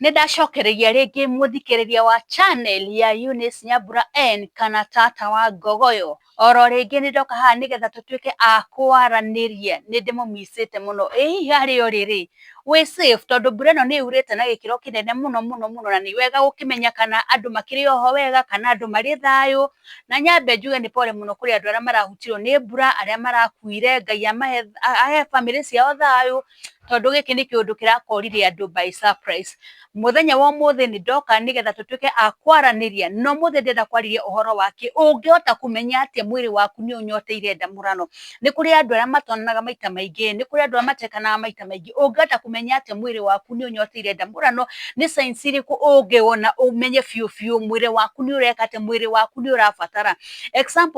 Nĩ ndacokereria rĩngĩ mũthikĩrĩria wa channel ya Eunice Nyambura N kana tata wa Ngogoyo. Oro rĩngĩ nĩ ndoka haha nĩgetha tũtuĩke a kwaranĩria, nĩ ndĩmũmicĩte mũno. Ĩ hihi harĩa ũrĩ rĩ, wĩ safe? Tondũ mbura ĩno nĩ yurĩte na gĩkĩro kĩnene mũno mũno mũno na nĩ wega gũkĩmenya kana andũ makĩrĩ oho wega, kana andũ marĩ thayũ. Na nyambe njuge nĩ pole mũno kũrĩ andũ arĩa marahutirwo nĩ mbura, arĩa marakuire, Ngai amahe ahe bamĩrĩ ciao thayũ. tondũ gĩkĩ nĩ kĩũndũ kĩrakorire andũ by surprise. Mũthenya wa ũmũthĩ nĩ ndoka nĩgetha tũtuĩke a kwaranĩria na ũmũthĩ ndĩrenda kwarĩria ũhoro wa kĩ ũngĩhota kũmenya atĩa mwĩrĩ waku nĩ ũnyoteire ndamũrano. Nĩ kũrĩ andũ arĩa matonanaga maita maingĩ, nĩ kũrĩ andũ arĩa matekanaga maita maingĩ. Ũngĩhota kũmenya atĩa mwĩrĩ waku nĩ ũnyoteire ndamũrano, nĩ signs irĩkũ ũngĩona ũmenye biũ biũ mwĩrĩ waku nĩ ũreka atĩa, mwĩrĩ waku nĩ ũrabatara.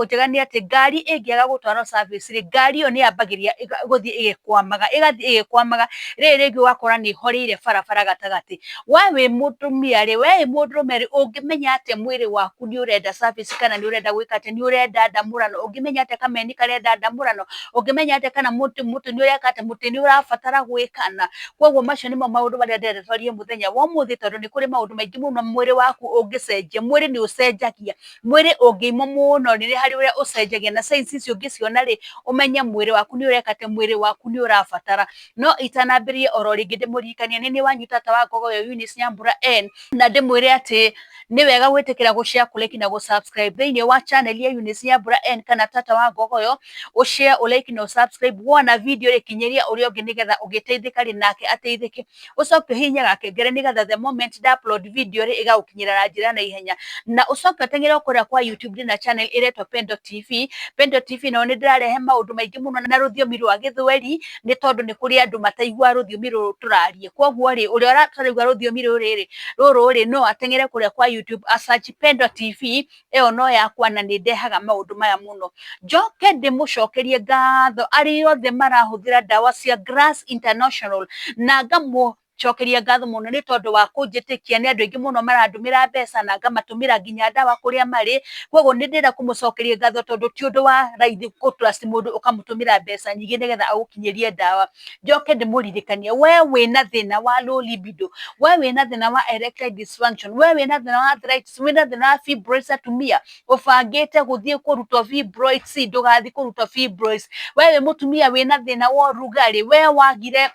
njega nĩ atĩ ngari ĩngĩaga gũtwarwo service rĩ, ngari ĩyo nĩ yambagĩrĩria gũthiĩ ĩgĩkwamaga, ĩgathiĩ ĩgĩkwamaga, rĩrĩ rĩngĩ ũgakora nĩ ĩhoreire barabara gatagatĩ. We wĩ mũtumia rĩ, we wĩ mũndũrũme rĩ, ũngĩmenya atĩa mwĩrĩ waku nĩ ũrenda service kana nĩ ũrenda gwĩka atĩa, nĩ ũrenda ndamũrano, ũngĩmenya atĩa kameni karenda ndamũrano, ũngĩmenya atĩa kana mũtĩ nĩ ũreka atĩa, mũtĩ nĩ ũrabatara gwĩkana. Kwoguo macio nĩmo maũndũ marĩa ndĩrenda twarie mũthenya wa ũmũthĩ tondũ nĩ kũrĩ maũndũ maingĩ mũno mwĩrĩ waku ũngĩcenjia. Mwĩrĩ nĩ ũcenjagia. mwĩrĩ ũngĩimwo mũno rĩ, nĩ harĩ ũrĩa ũcenjagia na signs icio ũngĩciona rĩ, ũmenye mwĩrĩ waku nĩ ũreka atĩ, mwĩrĩ waku nĩ ũrabatara. No itanambĩrĩria o ro rĩngĩ ndĩmũririkanie, nĩ niĩ wanyu tata wa Ngogoyo Eunice Nyambura N, na ndĩmwĩre atĩ nĩ wega gwĩtĩkĩra gũ share, kũ like na gũ subscribe thĩiniĩ wa channel ya Eunice Nyambura N kana tata wa Ngogoyo, ũ share, ũ like na ũ subscribe, wona video rĩ kinyĩria ũrĩa ũngĩ nĩgetha ũgĩteithĩka rĩ, nake ateithĩke. ũcoke ũhihinye gakengere nĩgetha the moment nda upload video rĩ ĩgagũkinyĩra na njĩra na ihenya na ũcoke ũteng'ere kũrĩa kwa YouTube ndĩ na channel ĩretwo Pendo TV Pendo TV nayo nĩ ndĩrarehe maũndũ maingĩ mũno na rũthiomi rwa gĩthweri nĩ tondũ nĩ kũrĩ andũ mataigua rũthiomi rũrũ tũrarie kwoguo rĩ ũrĩa ũrataraigua rũthiomi rũrĩ rĩ rũrũ rĩ no ateng'ere kũrĩa kwa YouTube a search Pendo TV ĩyo no yakwa na nĩ ndehaga maũndũ maya mũno njoke ndĩmũcokerie ngatho arĩ othe marahũthĩra ndawa cia Grass International na ngamũ cokeria ngatho mũno nĩ tondũ wa kũnjĩtĩkia nĩ andũ aingĩ mũno marandũmĩra mbeca na ngamatũmĩra nginya ndawa kũrĩa marĩ koguo nĩ ndĩrenda kũmũcokeria ngatho tondũ ti ũndũ wa raithi gũtrust mũndũ ũkamũtũmĩra mbeca nyingĩ nĩgetha agũkinyĩrie ndawa njoke ndĩmũririkanie we wĩna thĩna wa low libido we wĩna thĩna wa erectile dysfunction we wĩna thĩna wa arthritis wĩna thĩna wa fibroids atumia ũbangĩte gũthiĩ kũrutwo fibroids ndũgathiĩ kũrutwo fibroids we wĩ mũtumia wĩna thĩna wa ũrugarĩ we wagire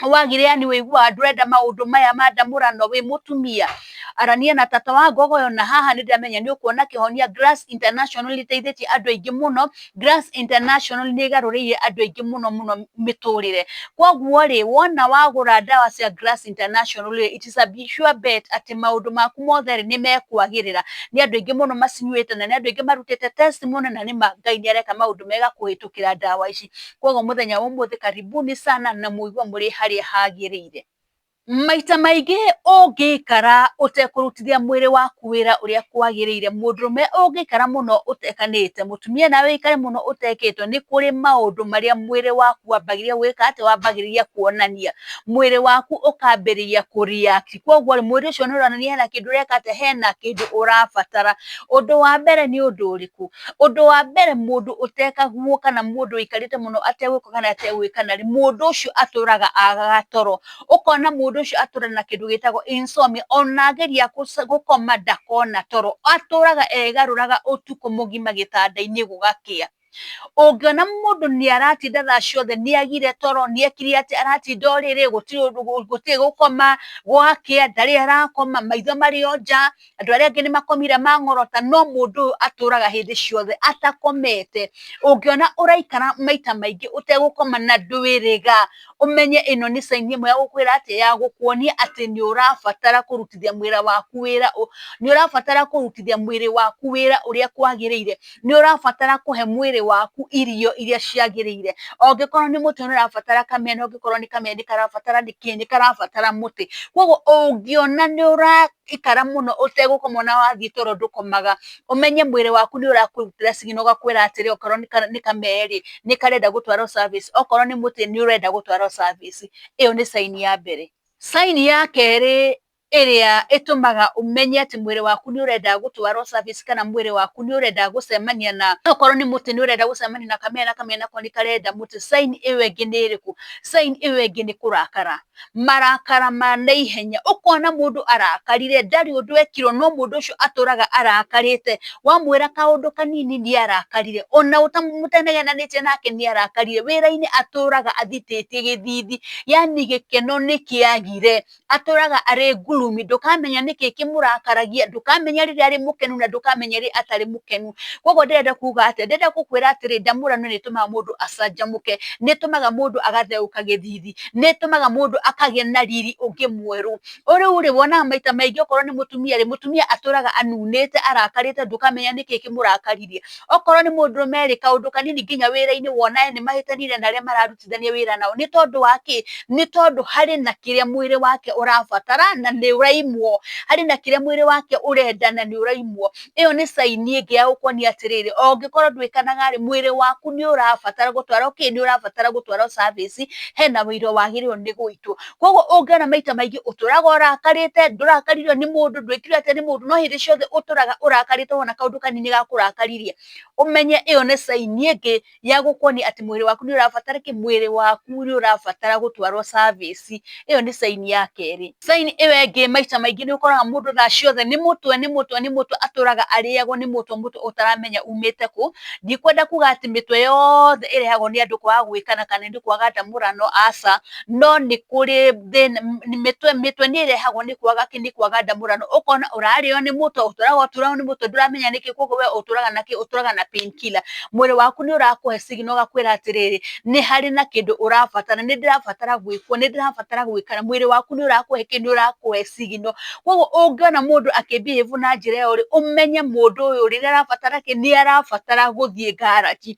wagire yani wĩiguaga ndũrenda maũndũ maya ma ndamũrano wĩ mũtumia arania na tata wa ngogoyo na haha nĩ ndĩramenya nĩ ũkuona kĩhonia Glass International nĩ ĩteithĩtie andũ aingĩ mũno International nĩ ĩgarũrĩire andũ aingĩ mũno mũno mĩtũrĩre. Koguo rĩ, wona wagũra ndawa cia Grass International rĩ, it is a sure bet atĩ maũndũ maku mothe rĩ, nĩ mekwagĩrĩra. Nĩ andũ aingĩ mũno macinyuĩte na nĩ andũ aingĩ marutĩte test mũno na nĩ ma Ngai nĩ areka maũndũ mega kũhĩtũkĩra ndawa ici. Koguo mũthenya wa ũmũthĩ karibuni sana na mũigue mũrĩ harĩa hagĩrĩire. maita maingĩ ũngĩikara ũtekũrutithia mwĩrĩ waku wĩra ũrĩa kwagĩrĩire mũndũrũme ũngĩikara mũno ũtekanĩte mũtumia nawe ũikare mũno ũtekĩtwo nĩ kũrĩ maũndũ marĩa mwĩrĩ waku wambagĩrĩria gwĩka atĩ wambagĩrĩria kuonania mwĩrĩ waku ũkambĩrĩria kũ react kwoguo rĩ mwĩrĩ ũcio nĩ ũronania hena kĩndũ ũreka atĩa hena kĩndũ ũrabatara ũndũ wa mbere nĩ ũndũ ũrĩkũ Ũndũ wa mbere mũndũ ũtekaguo kana mũndũ ũikarĩte mũno ategwĩka kana ategwĩkana rĩ, mũndũ ũcio atũraga agaga toro. Ũkona mũndũ ũcio atũra na kĩndũ gĩtagwo insomnia, ona ageria gũkoma ndakona toro. Atũraga egarũraga ũtukũ mũgima gĩtanda-inĩ gũgakĩa. Ũngĩona mũndũ nĩ aratinda thaa ciothe nĩ agire toro, nĩ ekire atĩa, aratinda o rĩrĩ, gũtirĩ ũndũ gũtirĩ gũkoma, gwakĩa ndarĩ arakoma, maitho marĩ o nja, andũ arĩa angĩ nĩ makomire mang'orota no mũndũ ũyũ atũraga hĩndĩ ciothe atakomete. Ũngĩona ũraikara maita maingĩ ũtegũkoma na ndwĩrĩga ũmenye ĩno nĩ sign ĩmwe ya gũkwĩra atĩ, ya gũkuonia atĩ nĩ ũrabatara kũrutithia mwĩra waku wĩra, nĩ ũrabatara kũrutithia mwĩrĩ waku wĩra ũrĩa kwagĩrĩire. Nĩ ũrabatara kũhe mwĩrĩ waku irio irĩa ciagĩrĩire. Angĩkorwo nĩ mũtĩ nĩ ũrabatara kamena, angĩkorwo nĩ kamena nĩ karabatara nĩ kĩ? Nĩ karabatara mũtĩ. Kwoguo ũngĩona nĩ ũra ikara mũno ũtegũkoma ona wathiĩ toro ndũkomaga, ũmenye mwĩrĩ waku nĩ ũrakwĩrutĩra signal ũgakwĩra atĩrĩ okorwo nĩ kamee rĩ, nĩ karenda gũtwarwo service, okorwo nĩ mũtĩ nĩ ũrenda gũtwarwo service. Ĩyo nĩ sign ya mbere. Sign ya kerĩ ĩrĩa ĩtũmaga ũmenye atĩ mwĩrĩ waku nĩ ũrenda gũtwarwo service kana mwĩrĩ waku nĩ ũrenda gũcemania na, okorwo nĩ mũtĩ nĩ ũrenda gũcemania na kamee na kamee nako nĩ karenda mũtĩ, sign ĩyo ĩngĩ nĩ ĩrĩkũ? Sign ĩyo ĩngĩ nĩ kũrakara. marakara ma na ihenya ũkona mũndũ arakarire ndarĩ ũndũ ekirwo no mũndũ ũcio atũraga arakarĩte wamwĩra kaũndũ kanini nĩ arakarire ona ũtanenenanĩtie nake nĩ arakarire wĩra-inĩ atũraga athitĩtie gĩthithi yani gĩkeno nĩ kĩagire atũraga arĩ ngurumi ndũkamenya nĩkĩ kĩmũrakaragia ndũkamenya rĩrĩa arĩ mũkenu na ndũkamenya rĩrĩa atarĩ mũkenu kwoguo ndĩrenda kuga atĩ ndĩrenda gũkwĩra atĩrĩ ndamũrano nĩ ĩtũmaga mũndũ acanjamũke nĩ ĩtũmaga mũndũ agatheũka gĩthithi. nĩ ĩtũmaga mũndũ akagĩa na riri ũngĩ mwerũ. O rĩu rĩ, wonaga maita maingĩ okorwo nĩ mũtumia rĩ, mũtumia atũraga anunĩte, arakarĩte ndũkamenya nĩkĩ kĩmũrakaririe. Okorwo nĩ mũndũrũme rĩ, kaũndũ kanini nginya wĩra-inĩ wona nĩ mahĩtanire na arĩa mararutithania wĩra nao. Nĩ tondũ wa kĩ? Nĩ tondũ harĩ na kĩrĩa mwĩrĩ wake ũrabatara na nĩ ũraimwo. Harĩ na kĩrĩa mwĩrĩ wake ũrenda na nĩ ũraimwo. ĩyo nĩ caini ĩngĩ ya gũkuonia atĩrĩrĩ, o ũngĩkorwo ndwĩkanaga rĩ, mwĩrĩ waku nĩ ũrabatara gũtwarwo kĩ? Nĩ ũrabatara gũtwarwo service, hena ũira wagĩrĩirwo nĩ gũitwo. Koguo ũngĩona maita maingĩ ũtũraga ũrakarĩte, ndũrakaririo nĩ mũndũ, ndwĩkirwo atĩa nĩ mũndũ, no hĩndĩ ciothe ũtũraga ũrakarĩte wona kaũndũ kanini gakũrakaririe, ũmenye ĩyo nĩ caini ĩngĩ ya gũkoniĩ atĩ mwĩrĩ waku nĩ ũrabatara kĩ? Mwĩrĩ waku nĩ ũrabatara gũtwarwo service. Ĩyo nĩ sign ya kerĩ. Sign ĩyo ĩngĩ maita maingĩ nĩ ũkoraga mũndũ thaa ciothe nĩ mũtwe, nĩ mũtwe, nĩ mũtwe, atũraga arĩagwo nĩ mũtwe, mũtwe ũtaramenya umĩte kũ. Ndikwenda kuga atĩ mĩtwe yothe ĩrehagwo nĩ andũ kwaga gwĩkana kana nĩ kwaga ndamũrano, aca, no nĩ kũrĩ thĩna mĩtwe mĩtwe nĩ ĩrehagwo nĩ kwaga kĩ nĩ kwaga ndamũrano ũkona ũrarĩo nĩ mũtwe ũtũraga ũtũraga nĩ mũtwe ndũramenya nĩkĩ koguo we ũtũraga na kĩ ũtũraga na pain killer mwĩrĩ waku nĩ ũrakũhe signal ũgakwĩra atĩrĩrĩ nĩ harĩ na kĩndũ ũrabatara nĩ ndĩrabatara gwĩkwo nĩ ndĩrabatara gwĩkara mwĩrĩ waku nĩ ũrakũhe kĩ nĩ ũrakũhe signal koguo ũngĩona mũndũ akĩ behave na njĩra ĩyo rĩ ũmenye mũndũ ũyũ rĩrĩa arabatara kĩ nĩ arabatara gũthiĩ ngaraji.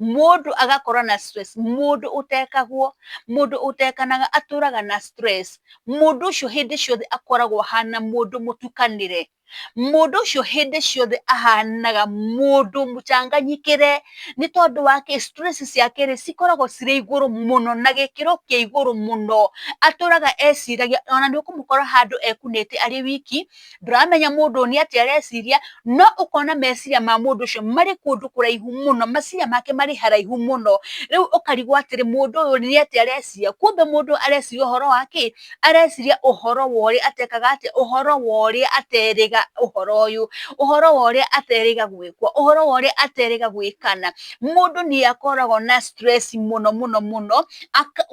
Mũndũ agakorwo na stress, mũndũ ũtekagwo, mũndũ ũtekanaga atũraga na stress. Mũndũ ũcio hĩndĩ ciothe akoragwo ahana mũndũ mũtukanĩre. Mũndũ ũcio hĩndĩ ciothe ahanaga mũndũ mũcanganyikĩre, nĩ tondũ wa kĩ? Stress ciake rĩ, cikoragwo cirĩ igũrũ mũno na gĩkĩro kĩa igũrũ mũno. Atũraga eciragia, ona nĩ ũkũmũkora handũ ekunĩte arĩ wiki, ndũramenya mũndũ ũyũ nĩ atĩa areciria, no ũkona meciria ma mũndũ ũcio marĩ kũndũ kũraihu mũno, meciria make marĩ haraihu mũno, rĩu ũkarigwo atĩrĩ mũndũ ũyũ nĩ atĩa areciria, kumbe mũndũ ũyũ areciria ũhoro wa kĩ? areciria ũhoro wa ũrĩa atekaga atĩa? ũhoro wa ũrĩa aterĩga ũhoro ũyũ, ũhoro wa ũrĩa aterĩga gwĩkwo, ũhoro wa ũrĩa aterĩga gwĩkana, mũndũ nĩ akoragwo na stress mũno mũno mũno.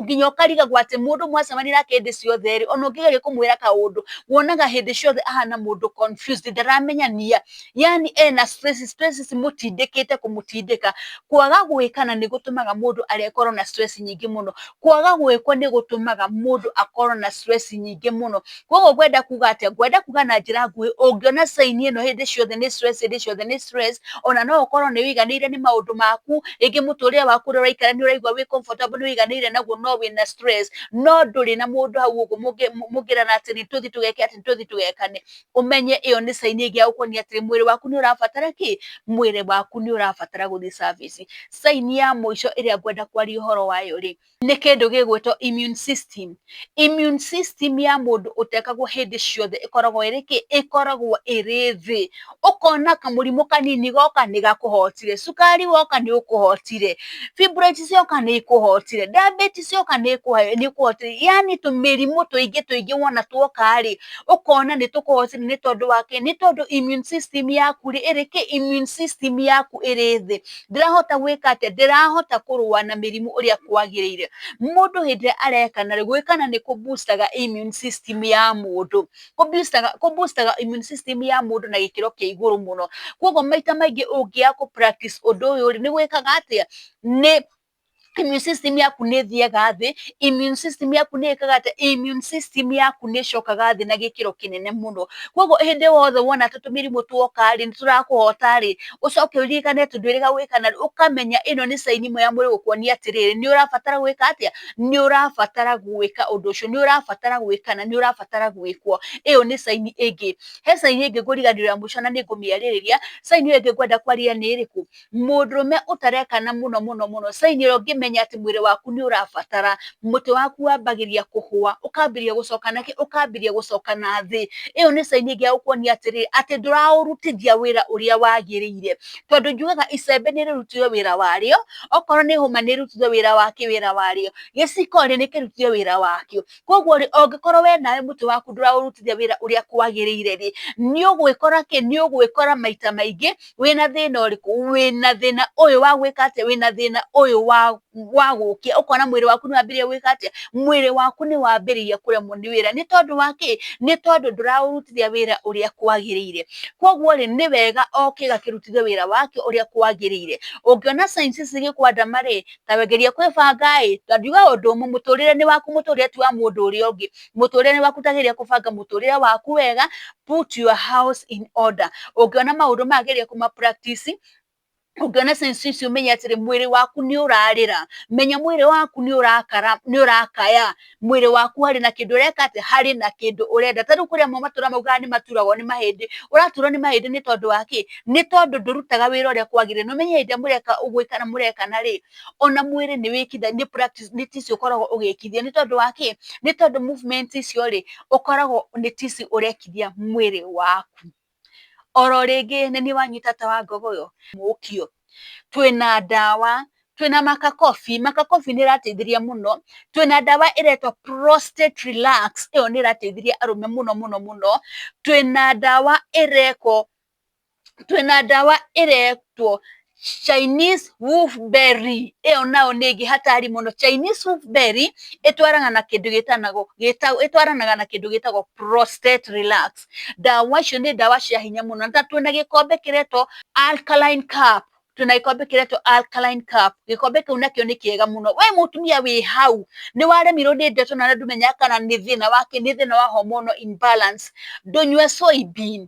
nginya ũkarigagwo atĩ mũndũ mwacemania nake hĩndĩ ciothe rĩ, ona ũngĩgeria kũmwĩra kaũndũ, wonaga hĩndĩ ciothe ahana mũndũ confused, ndaramenya nĩ a. Yaani ena stress, stress cimũtindĩkĩte kũmũtindĩka. Kwaga gwĩkana nĩ gũtũmaga mũndũ akorwo na stress nyingĩ mũno. Kwaga gwĩkwo nĩ gũtũmaga mũndũ akorwo na stress nyingĩ mũno. koguo ngwenda kuga atĩa ngwenda kuga na njĩra nguhĩ ũngĩona saini ĩno hĩndĩ ciothe nĩ stress hĩndĩ ciothe nĩ stress ona no ũkorwo nĩ ũiganĩire nĩ maũndũ maku rĩngĩ mũtũrĩre waku ũrĩa ũraikara nĩ ũraigua wĩ comfortable nĩ ũiganĩire naguo no wĩna stress no ndũrĩ na mũndũ hau ũguo mũngĩ- mũngĩrana atĩ nĩ tũthi tũgeke atĩ nĩ tũthi tũgekane ũmenye ĩyo nĩ saini ĩngĩ ya gũkuonia atĩ mwĩrĩ waku nĩ ũrabatara kĩ mwĩrĩ waku nĩ ũrabatara gũthiĩ service saini ya mũico ĩrĩa ngwenda kwaria ũhoro wayo rĩ nĩ kĩndũ gĩgwĩtwo immune system. Immune system ya mũndũ ũtekagwo hĩndĩ ciothe ĩkoragwo ĩrĩ kĩ? Ĩkoragwo ĩrĩ thĩ. Ũkona kamũrimũ kanini goka nĩ gakũhotire, cukari woka nĩ ũkũhotire, fibroids cioka nĩ ikũhotire, diabetes yoka nĩ ĩkũhotire, yaani tũmĩrimũ tũingĩ tũingĩ wona tuoka rĩ, ũkona nĩ tũkũhotire nĩ tondũ wa kĩ? Nĩ tondũ immune system yaku rĩ, ĩrĩ kĩ? Immune system yaku ĩrĩ thĩ. ndirahota gwĩka atĩa ndirahota kũrũa na mĩrimũ ũrĩa kwagĩrĩire mũndũ hĩndĩ ĩrĩa arekana rĩ gwĩkana nĩ kũ booster immune system ya mũndũ kũ booster immune system ya mũndũ na gĩkĩro kĩa igũrũ mũno koguo maita maingĩ ũngĩaga kũ practice ũndũ ũyũ rĩ nĩ gwĩkaga atĩa nĩ immune system yaku nĩ ĩthiaga thĩ, immune system yaku nĩ ĩkaga atĩa, immune system yaku nĩ ĩcokaga thĩ na gĩkĩro kĩnene mũno. Koguo hĩndĩ ĩyo yothe wona ta tũmĩrimũ tuoka rĩ, nĩ tũrakũhota rĩ, ũcoke ũririkane atĩ ndwĩrĩga gwĩka narua, ũkamenya ĩno nĩ sign ĩmwe ya mwĩrĩ gũkuonia atĩrĩrĩ, nĩ ũrabatara gwĩka atĩa, nĩ ũrabatara gwĩka ũndũ ũcio, nĩ ũrabatara gwĩka na nĩ ũrabatara gwĩkwo. Ĩyo nĩ sign ĩngĩ. He sign ĩngĩ ngũriganĩrwo ya mũico na nĩ ngũmĩarĩrĩria, sign ĩyo ĩngĩ ngwenda kwarĩrĩria nĩ ĩrĩkũ? mũndũrũme ũtarekana mũno mũno mũno sign ĩrĩa ũngĩmenya atĩ mwĩrĩ waku nĩ ũrabatara mũtwe waku wambagĩrĩria kũhũa ũkambĩrĩria gũcoka na kĩ ũkambĩrĩria gũcoka na thĩ ĩyo nĩ sign ĩngĩ ya gũkuonia atĩrĩrĩ atĩ ndũraũrutithia wĩra ũrĩa wagĩrĩire tondũ njugaga icembe nĩ rĩrutire wĩra warĩo okorwo nĩ hũma nĩ ĩrutire wĩra wakĩ wĩra warĩo gĩciko rĩ nĩ kĩrutire wĩra wakĩo Koguo rĩ, ũngĩkorwo we nawe mũtwe waku ndũraũrutithia wĩra ũrĩa kwagĩrĩire rĩ, nĩ ũgwĩkora kĩ? Nĩ ũgwĩkora maita maingĩ wĩna thĩna ũrĩkũ? Wĩna thĩna ũyũ wa gwĩka atĩa? Wĩna thĩna ũyũ wa wa gũkĩa, ũkona mwĩrĩ waku nĩ wambĩrĩria gwĩka atĩa? Mwĩrĩ waku nĩ wambĩrĩria kũremwo nĩ wĩra. Nĩ tondũ wa kĩ? Nĩ tondũ ndũraũrutithia wĩra ũrĩa kwagĩrĩire. Koguo rĩ, nĩ wega o kĩga kĩrutithio wĩra wakĩo ũrĩa kwagĩrĩire. Ũngĩona signs ici cigĩkwandama rĩ, ta wegerie kwĩbanga ĩ ndandiuga ũndũ ũmwe mũtũrĩre nĩ waku mũtũrĩre ti wa mũndũ ũrĩa ũngĩ mũtũrĩre nĩ waku tageria kũbanga mũtũrĩre waku wega put your house in order ũngĩona maũndũ mageria kũma practice ũngĩona sense icio menya atĩrĩ mwĩrĩ waku nĩ ũrarĩra menya mwĩrĩ waku nĩ ũrakara nĩ ũrakaya mwĩrĩ waku harĩ na kĩndũ ũreka atĩ harĩ na kĩndũ ũrenda tarĩu kũrĩa mo matũra maugaga nĩ maturagwo nĩ mahĩndĩ ũraturwo nĩ mahĩndĩ nĩ tondũ wa kĩ nĩ tondũ ndũrutaga wĩra ũrĩa kwagĩrĩire na ũmenye hĩndĩ ĩrĩa mũreka ũgwĩka na mũrekana rĩ ona mwĩrĩ nĩ wĩkitha nĩ practice nĩ tici ũkoragwo ũgĩkithia nĩ tondũ wa kĩ nĩ tondũ movement icio rĩ ũkoragwo nĩ tici ũrekithia mwĩrĩ waku. Oro rĩngĩ nĩ niĩ wanyu tata wa ngogo ũyũ mũkio. Twĩna ndawa, twĩna makakobi, makakobi nĩ ĩrateithirie mũno, twĩna ndawa ĩretwo Prostate Relax ĩyo nĩ ĩrateithirie arũme mũno mũno mũno, twĩna ndawa ĩretwo, twĩna ndawa ĩretwo Chinese wolfberry ĩyo nayo nĩ ĩngĩ hatari mũno. Chinese wolfberry ĩtwaranaga na kĩndũ gĩtanagwo ĩtwaranaga na kĩndũ gĩtagwo prostate relax. Ndawa icio nĩ ndawa cia hinya mũno. Na twĩna gĩkombe kĩretwo Alkaline Cup, twĩna gĩkombe kĩretwo Alkaline Cup. Gĩkombe kĩu nakĩo nĩ kĩega mũno. We mũtumia wĩ hau, nĩ waremirwo nĩ ndeto na ndũmenyaga kana nĩ thĩna wa kĩ, nĩ thĩna wa hormonal imbalance, ndũnyue soybean,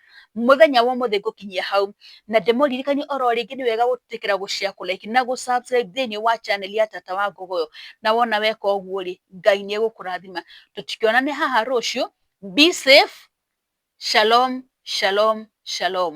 Mũthenya wa ũmũthĩ ngũkinyia hau, na ndĩmũririkanie o ro rĩngĩ nĩ wega gwĩtĩkĩra gũ share, kũ like na gũ subscribe thĩinĩ wa channel ya Tata wa Ngogoyo, na wona weka ũguo rĩ, Ngai nĩ egũkũrathima. Tũtikĩonane haha rũciũ, be safe, shalom, shalom, shalom.